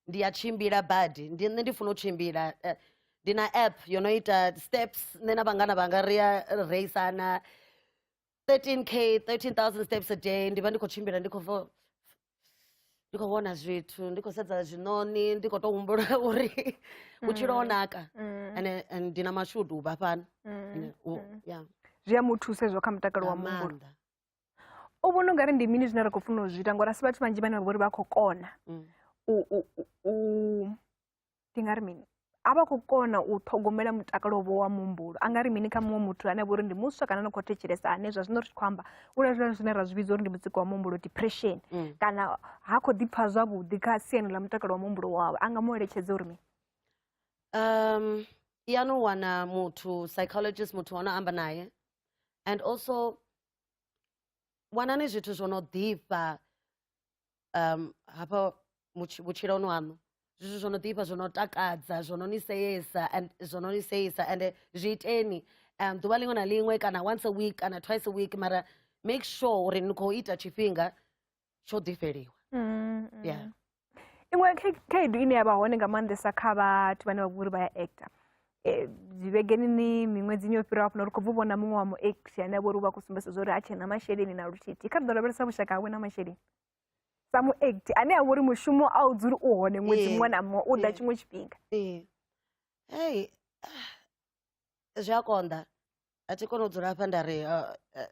ndi a tshimbila badi ndi nṋe ndi funa u tshimbila eh, ndi na app yo no ita steps nṋe na vhangana vhanga ri a reisana 13k 13000 steps a day ndi vha ndi khou tshimbila ndi khou vo ndi khou vhona zwithu ndi khou sedza zwiṋoni ndi khou tou humbula uri vhutshilo ho naka Mm. ane and ndi na mashudu u vha fhano Mm. Ane, u- Mm. yeah. zwi a mu thusa hezwo kha mutakalo wa Nga muhumbulo maanḓa. u vhona ungari ndi mini zwine ra khou funa u zwi ita ngori asi vhathu vhanzhi vhane vha vhori vha khou kona mm. u ndi nga ri mini a vha khou kona u ṱhogomela mutakalo vho wa muhumbulo a nga ri mini kha muṅwe muthu ane vha uri ndi muswa kana ni khou thetshelesa ane zwa zwino ri tshi khou amba u lazwila zwine ra zwi vhidza uri ndi mutsiko wa muhumbulo depression mm. kana ha khou ḓipfha zwavhuḓi kha siani ḽa mutakalo wa muhumbulo wawe a nga mu eletshedza uri mini um ya no wana muthu psychologist muthu wa no amba naye and also wanani zwithu zwo no ḓifha um hafha vhutshiloni waṋu zwithu zwo no ḓifha zwo no takadza zwo no ni seyesa and zwo no ni seyesa and zwi iteni um ḓuvha ḽiṅwe na ḽiṅwe kana once a week kana twice a week mara make sure uri ni khou ita tshifhinga tsho ḓifheliwa mm, mm. yeah iṅwe khaedu ine ya vha hone nga maanḓesa kha vhathu vhane vha vhori vha ya actor e, vhegeni ni miṅwedzini yo fhiraho funa ri khou bvu vhona muṅwe wa muact ane vhori u vha khou sumbesa zwa uri ha tshena masheleni na luthithi kha ri ḓo lavhelesa vhushaka hawe na masheleni sa muact ane a vhori mushumo a u dzuli u hone ṅwedzi muṅwe na muṅwe u ḓa tshiṅwe tshifhinga ei zwi a konḓa a thi kone u dzula hafha nda ri uh, uh,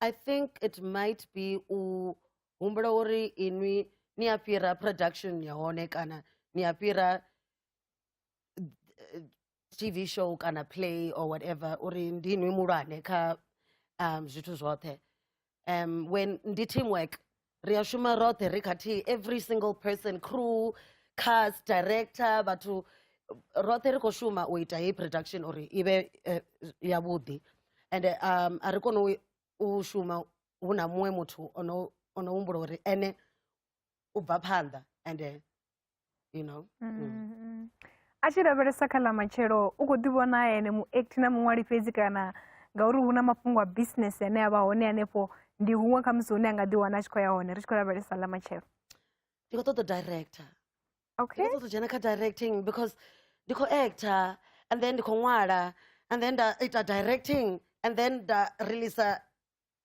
i think it might be u humbula uri inwi ni a fhira production ya hone kana ni a fhira eh, tv show kana play or whatever uri ndi inwi mulwane kha um, zwithu zwoṱhe um, when ndi teamwork ri a shuma roṱhe ri khathihi every single person crew cast director vhathu roṱhe ri khou shuma u ita heyi production uri i vhe eh, yavhuḓi and um, a ri kone u- u shuma hu na muṅwe muthu ono ono humbula uri ene u bva phanḓa and eh, you know mm. Mm. Mm-hmm. a tshi lavhelesa kha ḽa matshelo u khou ḓi vhona ene muact na muṅwali fhedzi kana ngauri hu na mafhungo a business ane a vha hone hanefho ndi huṅwe kha musi hune a nga ḓi wana a tshi khou ya hone ri tshi khou lavhelesa ḽa matshelo ndi khou ṱoḓa director okay ndi khou ṱoḓa dzhena kha directing because ndi khou actor and then ndi khou ṅwala and then nda ita directing and then nda releasa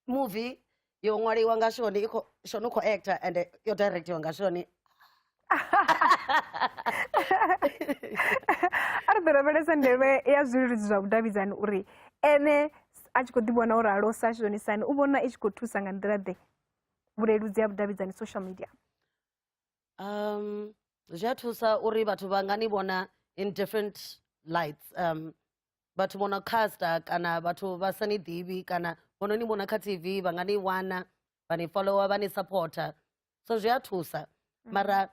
movie yo ṅwaliwa nga shoni i kho shoni u khou actor and yo directiwa nga shoni a ri ḓo lavhelesa ndeme ya zwileludzi zwa vhudavhidzani uri ene a tshi khou ḓi vhona uri alo sa shonisani u vhona i tshi khou thusa nga nḓila ḓe vhuleludzi ya vhudavhidzani social media um zwi a thusa uri vhathu vha nga ni vhona in different lights um vhathu vho no casta kana vhathu vha sa ni ḓivhi kana vho no ni vhona kha tv vha nga ni wana vha ni follower vha ni supporter so zwi a thusa mm. mara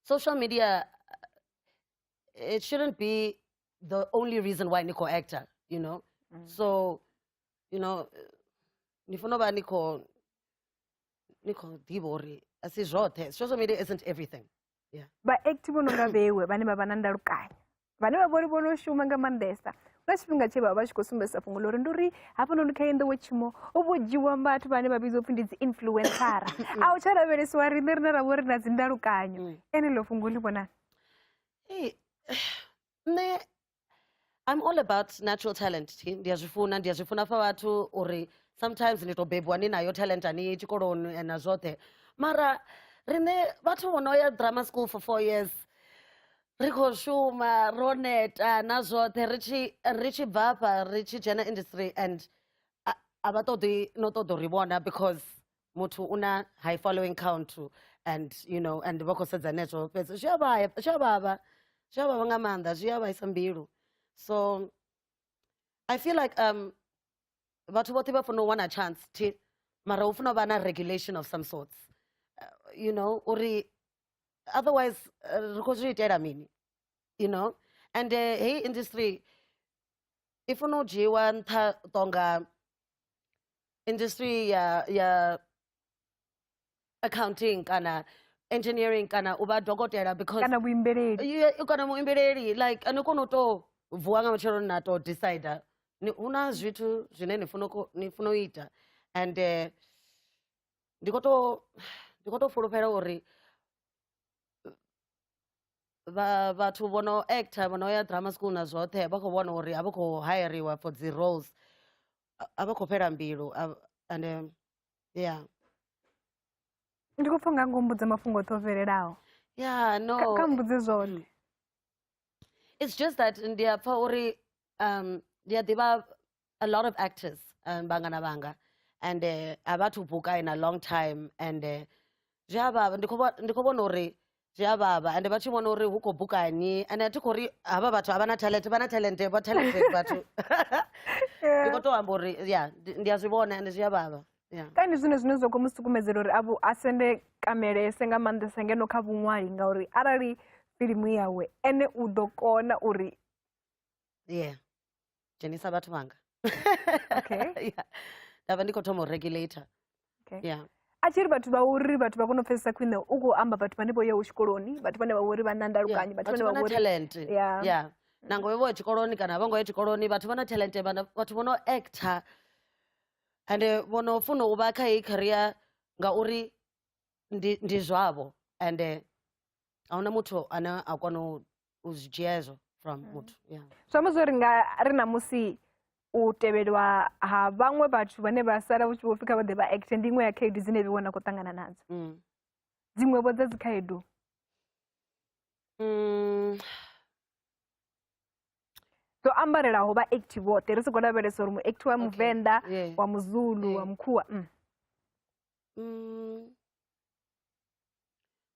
social media eh, it shouldn't be the only reason why ni khou actor you know mm. so you know ni funa u vha ni khou ni khou ḓivha uri a si zwoṱhe social media isn't everything vhaekthi vho no nga vhewe vhane vha vha na ndalukanyo vhane vha vhori vho no shuma nga maanḓesa nga tshifhinga tshe vha vha tshi khou sumbedzisa fhungo ḽori ndi uri hafhanoni kha yenḓowo tshimo u vho dzhiwa vhathu vhane vha vhidzwa upfhi ndi dzi influencara a u tsha lavhelesiwa riṋe rine ra vha uri na dzi ndalukanyo mm. ene ḽo fhungo ḽi vhonani nṋe I'm all about natural talent ndi a zwi funa ndi a zwi funa fa vhathu uri sometimes ndi to bebiwa ni nayo talent ani tshikoloni na zwoṱhe mara riṋe vhathu vho no ya drama school for four years ri khou shuma ro neta na zwoṱhe ri tshi ri tshi bva fha ri tshi dzhena industry and a vha ṱoḓi no ṱoḓa uri vhona because muthu u na high following count to and you know and vha khou sedza netwo fhedzi zwi a vhaya zwi a vhavha zwi a vhavha nga maanḓa zwi a vhaisa mbilu so i feel like um vhathu vhoṱhe vha fanela u wana chance thi mara hu fanela u vha na regulation of some sorts uh, you know uri otherwise uh, ri khou zwi itela mini you know and uh, heyi industry i funa u dzhiiwa nṱha tonga industry ya ya accounting kana engineering kana u vha dokotela because kana vhuimbeleli Ye- kana muimbeleli like ni kona u to vuwa nga matsheloni na to decide ni- hu na zwithu zwine ni funa u ko- ni funa u ita and eh, ndi kho to ndi kho to fulufhela uri vha vhathu vho no actor vho no ya drama school na zwoṱhe vha khou vhona uri a vha khou hayariwa for dzi roles a- a vha khou fhela mbilu a- and um, yeah ndi khou pfa nga ngo mbudza mafhungo oṱhe o fhelelaho yeah no Kha- kha mbudze zwoṱhe it's just that ndi a pfa uri um ndi a ḓivha a lot of actors um, vhangana vhanga and uh, a vha thu buka in a long time and uh, zwi a vhavha ndi khou vho- ndi khou vhona uri zwi a vhavha ende vha tshi vhona uri hu khou bukani ende a thi khou ri havha vhathu a vha na talent vha na talent vha talented vhathu ndi khou tou amba uri ya ndi ndi a zwi vhona ende zwi a vhavha ya ka ndi zwine zwine zwa khou mu sukumedzela uri avhu a sende kamelese nga maanḓesa ngeno kha vhuṅwali ngauri arali filimu yawe ene u ḓo kona uri yeah dzhenisa vhathu vhanga okay. yeah. ndavha ndi khou thoma u regulator okay. yeah a tshi ri vhathu vha uri vhathu vha kone u pfesesa khwine u khou amba vhathu vhane vho yaho tshikoloni vhathu vhane vha uri vha na ndalukanyi vhathu vhane vha uri talent yeah. yeah. nango vho ya tshikoloni kana vho ngo ya tshikoloni vhathu vha na talent vhathu vho no actor and vho no funa u vha kha heyi career ngauri ndi ndi zwavho and ahuna muthu ane a kona u u zwi dzhia hezwo from mm. muthu yeah. zwi amba zwo ri nga ri na musi u tevhelwa ha vhaṅwe vhathu vhane vha sala vhu tshi vho fika vha ḓe vha acte ndi iṅwe ya khaedu dzine vhe vhona khou ṱangana nadzo mm. dziṅwevho dza dzikhaedu mm. dzo ambarelaho vha acti vhoṱhe ri si khou lavhelesa uri muacti wa muvenḓa wa muzulu wa mukhuwa mm.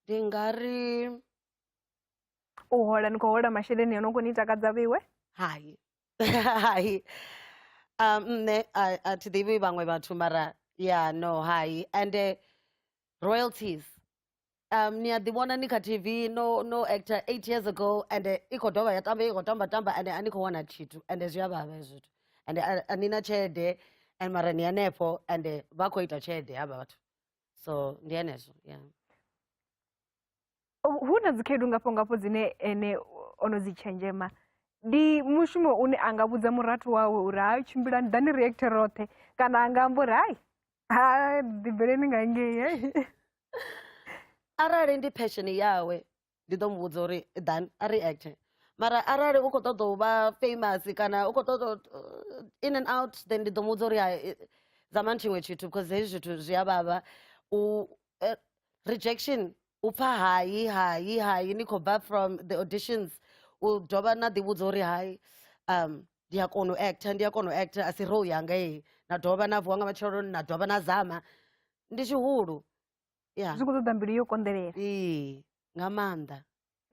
ndi nga ri u hola ni khou hola masheleni a no khou ni takadza vheiwe hai hai um nṋe a- a thi ḓivhi vhaṅwe vhathu mara ya no hai ende royalties um ni a ḓi vhona ni kha tv no no actor eight years ago ende i khou dovha ya tamba i khou tamba tamba ende a ni khou wana tshithu ende zwi a vhavha hezwo zwithu ende a- a ni na tshelede and mara ni hanefho ende vha khou ita tshelede havha vhathu so ndi henezwo yeah hu na dzikhaedu ngafho ngafho dzine ene o no dzi tshenzhema ndi mushumo une a nga vhudza murathu wawe uri ha tshimbila ni ḓani reactor roṱhe kana a nga amba uri hai ha ḓibveleni nga ngei arali ndi passion yawe ndi ḓo mu vhudza uri ḓani a reacte mara arali u khou ṱoḓa u vha famous kana u khou ṱoḓa uh, in and out then ndi ḓo mu vhudza uri zamani tshiṅwe tshithu because hezwi zwithu zwi a vhavha u eh, rejection u pfa hai hai hai ni khou bva from the auditions u dovha na ḓivhudza uri hai um ndi a kona u actor ndi a kona u actor a si role yanga heyi na dovha na vuwa nga matsheloni na dovha na zama ndi tshihulu ya zwi khou ṱoḓa mbilu yo konḓelela ee nga maanḓa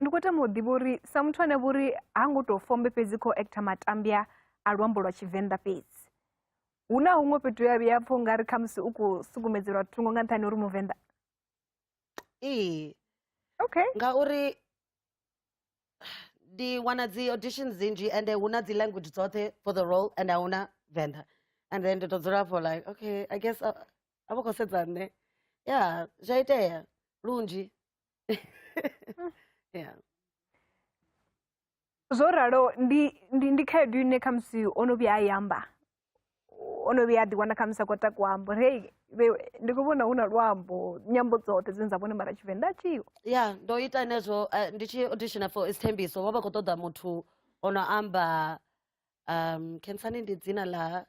ndi khou tama u ḓivha uri sa muthu ane vho uri ha ngo tou fombe fhedzi khou actor matambya a luambo lwa tshivenḓa fhedzi hu na huṅwe fhethu ya vhuya pfha ungari khamusi u khou sukumetselwa thungo nga nṱhani uri muvenḓa ee okay ngauri ndi wana dzi audition dzinzhi and hu na dzi language dzoṱhe for the role and ahuna venḓa and then ndi to dzula for like okay i guess a vho khou sedza nṋe ya zwa itea lunzhi yeah zwo ralo ndi ndi ndi khaedu ine khamusi o no vhuya a i amba o no vhuya a ḓiwana khamusi a khou ta kuambo ri hei vhe- ndi khou vhona hu na luambo nyambo dzoṱhe dzine dza vhone mara tshivenḓa a tshiho ya ndo ita nezwo eh, ndi tshi auditioner for isithembiso vha vha khou ṱoḓa muthu o no amba um khensani ndi dzina ḽa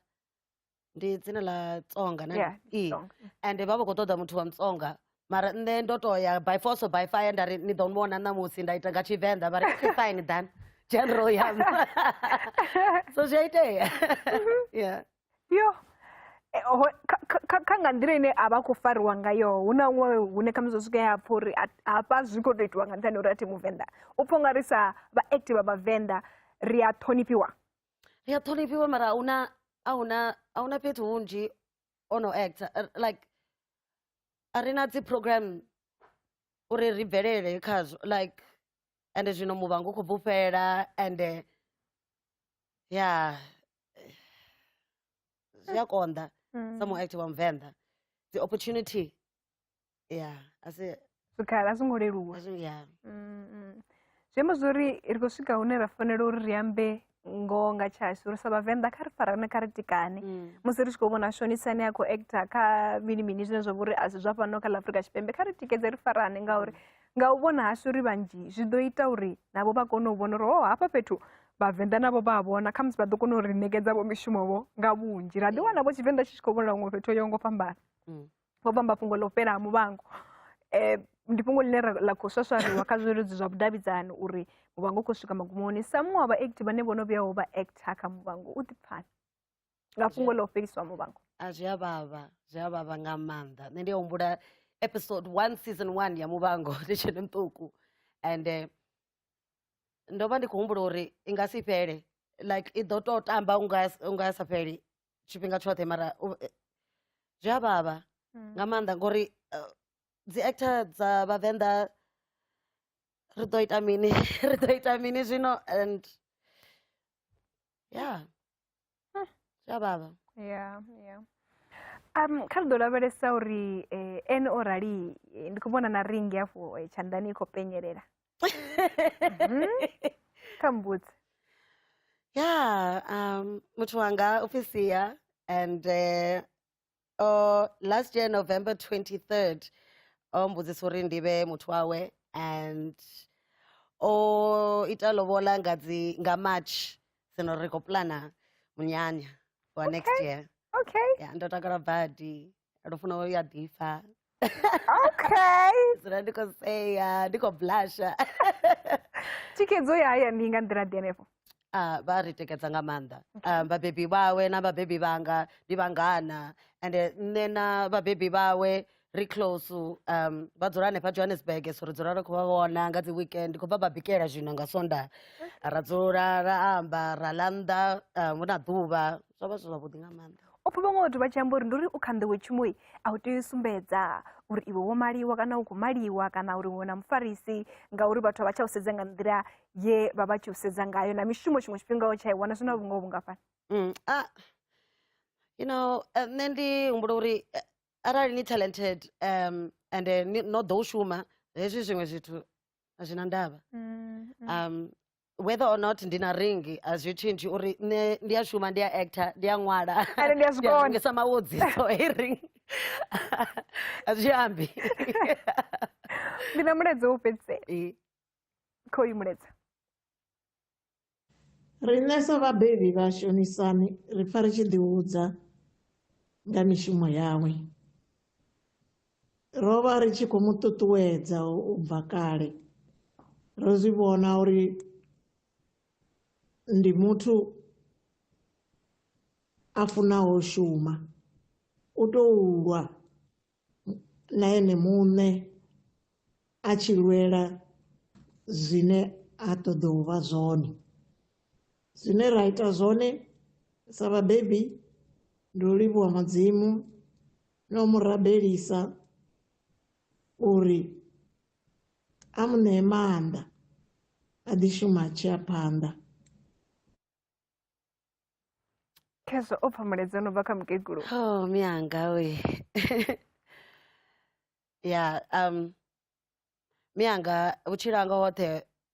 ndi dzina ḽa tsonga na Yeah, ee Tsonga. and vha vha khou ṱoḓa muthu wa mutsonga mara nṋe ndo to ya by force or by fire nda ri ni ḓo vhona ṋamusi nda ita nga tshivenḓa vha ri "Okay, fine dan general yam so zwi a itea yeah yo Eh, ho- kha- kha- kha- kha nga nḓila ine a vha khou fariwa ngayo hu na huṅwe hune khamusi zwa swika ya pfha uri a- hafha zwi khou tou itiwa nga nṱhani ha uri a thi muvenḓa u pfha u nga ri sa vha active vha vhavenḓa ri a ṱhonifhiwa ri a ṱhonifhiwa mara a huna a huna a huna fhethu hunzhi o no actor uh, like a ri na dzi program uri ri bvelele khazwo like ende zwino muvhango u khou bvufhela ende ya zwi a konḓa mm. sa muactor wa muvenḓa the opportunity ya a si zwikhala a zwo ngo leluwa a zwi- ya Mm, mm. zwi amba zwori ri khou swika hune ra fanela uri ri ambe ngoho nga tshashu ri sa vhavenḓa kha ri farane kha ri tikane Mm. musi ri tshi khou vhona shonisa ane a khou actor kha mini mini zwine zwa vha uri a si zwa fhano kha ḽa afurika tshipembe kha ri tikedze ri farane ngauri nga u vhona hashu ri vhanzhi zwi ḓo ita uri navho vha kone u vhona uri o hafha fhethu vhavenḓa navho vha a vhona khamusi vha ḓo kona uri ṋekedza vho mishumo vho nga vhunzhi ra ḓi wana vho tshivenḓa tshi tshi khou vhonala huṅwe fhethu ho yaho ngo fhambana Mm. vho vhamba fhungo ḽo fhela ha muvhango um ndi fhungo ḽine ḽa khou swaswariwa kha zwileludzi zwa vhudavhidzani uri muvhango u khou swika magumoni sa muṅwe wa vhaekti vhane vho no vhuyaho vha ekta kha muvhango u ḓipfani nga fhungo ḽa u fhelisiwa muvhango a zwi a vhavha zwi a vhavha nga maanḓa nṋe ndi a humbula episode one season one ya muvhango ndi tshene muṱuku and eh, ndo vha ndi khou humbula uri i nga si fhele like i ḓo tou tamba unga unga sa fheli tshifhinga tshoṱhe mara u- eh, zwi a vhavha Mm. nga maanḓa ngori eh, dzi actor dza vhavenḓa ri ḓo ita mini ri ḓo ita mini zwino and ya Ah. zwi a vhavha Yeah, yeah. Um, kha ri ḓo lavhelesa uri eh, ene o rali eh, ndi khou vhona na ringi afho eh, tshanḓani i khou penyelela kha mbudzi ya um muthu wanga u pfhi sia and uh, oh, last year november 23rd o mbudzisa uri ndi vhe muthu wawe and o ita lobola nga dzi nga march sino ri khou plana munyanya for next year okay ya ndo takala badi ndo funa u ya ḓifha okay dzula ndi khou sea ndi khou blasha thikhedzo ya haya ndi nga nḓila ḓi henefho Ah, vha ri tikedza nga maanḓa Ah, vhabebi vhawe na vhabebi vhanga ndi vhangana ende nṋe na vhabebi vhawe ri close um vha dzula hanefha johannesburg so ri dzula ri khou vha vhona nga dzi weekend ndi khou bva vha bikela zwino nga sonda ra dzula ra amba ra ḽa nnḓa um, hu na ḓuvha zwa vha zwi zwavhuḓi nga maanḓa o pfha vhaṅwe vhathu vha tshi amba uri ndi uri u kha nḓowetshumo a u tea u sumbedza uri iwe wo maliwa kana u khou maliwa kana uri iwe na mufarisi ngauri vhathu a vha tsha u sedza nga nḓila ye vha vha tshi u sedza ngayo na mishumo tshiṅwe tshifhinga o tsha i wana zwi na vhungoho vhungafhani mm, ah, you know eh, nṋe ndi humbula uri eh, arali ni talented um and no ḓo u shuma hezwi zwiṅwe zwithu a zwi na ndavha mm, mm. um whether or not ndi na ring a zwi tshintshi uri nṋe ndi a shuma ndi a actor ndi a ṅwala Ende ndi a zwi kona. rengisa mawodzi so hei ring a zwi ambi ndi na mulaedza wo fhedzisela Eh, kha uyu mulaedza Riṋe sa vhabebi vha Shonisani ri pfa ri tshi ḓihudza nga mishumo yawe. Ro vha ri tshi khou mu ṱuṱuwedza u bva kale. Ro zwi vhona uri ndi muthu a funaho u shuma, u tou lwa na ene muṋe a tshi lwela zwine a ṱoḓa u vha zwone. Zwine ra ita zwone sa vhabebi ndi u livhuwa Mudzimu no mu rabelisa uri a mu ṋee maanḓa a ḓi shuma a tshi ya phanḓa khezwo o pfha mulaedza no bva kha mukegulu oh mianga we ya um mianga vhutshilo hanga hoṱhe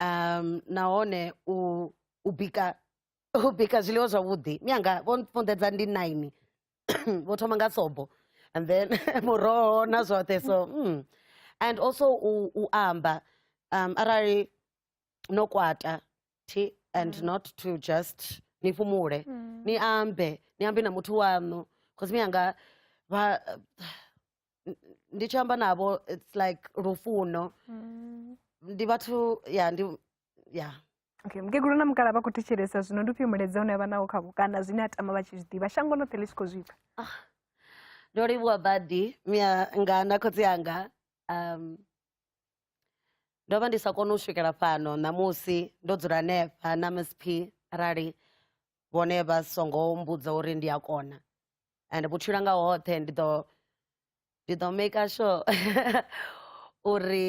um nahone u u bika u bika zwiḽiwa zwavhuḓi mianga vho funḓedza ndi nine vho thoma nga sobo and then muroho na zwoṱhe so mm. and also u, u amba um, arali no kwata thi and mm. not to just ni fhumule mm. ni ambe ni ambe na muthu waṋu cause mianga vha n- ndi tshi amba navho it's like lufuno Mm. ndi vhathu ya ndi ya okay mukegulu na mukala vha khou thetshelesa zwino ndi ufhio mulaedza une avha nawo khavho kana zwine a tama vha tshi zwi ḓivha shango ḽoṱhe ḽi tshi khou zwipfa ndo livhuwa badi mia nga na khotsi anga um ndo vha ndi sa koni u swikela fhano ṋamusi ndo dzula hanefha na msp arali vhone vha songo mbudza uri ndi a kona and vhutshilo nga hoṱhe ndi ḓo ndi ḓo maker sure uri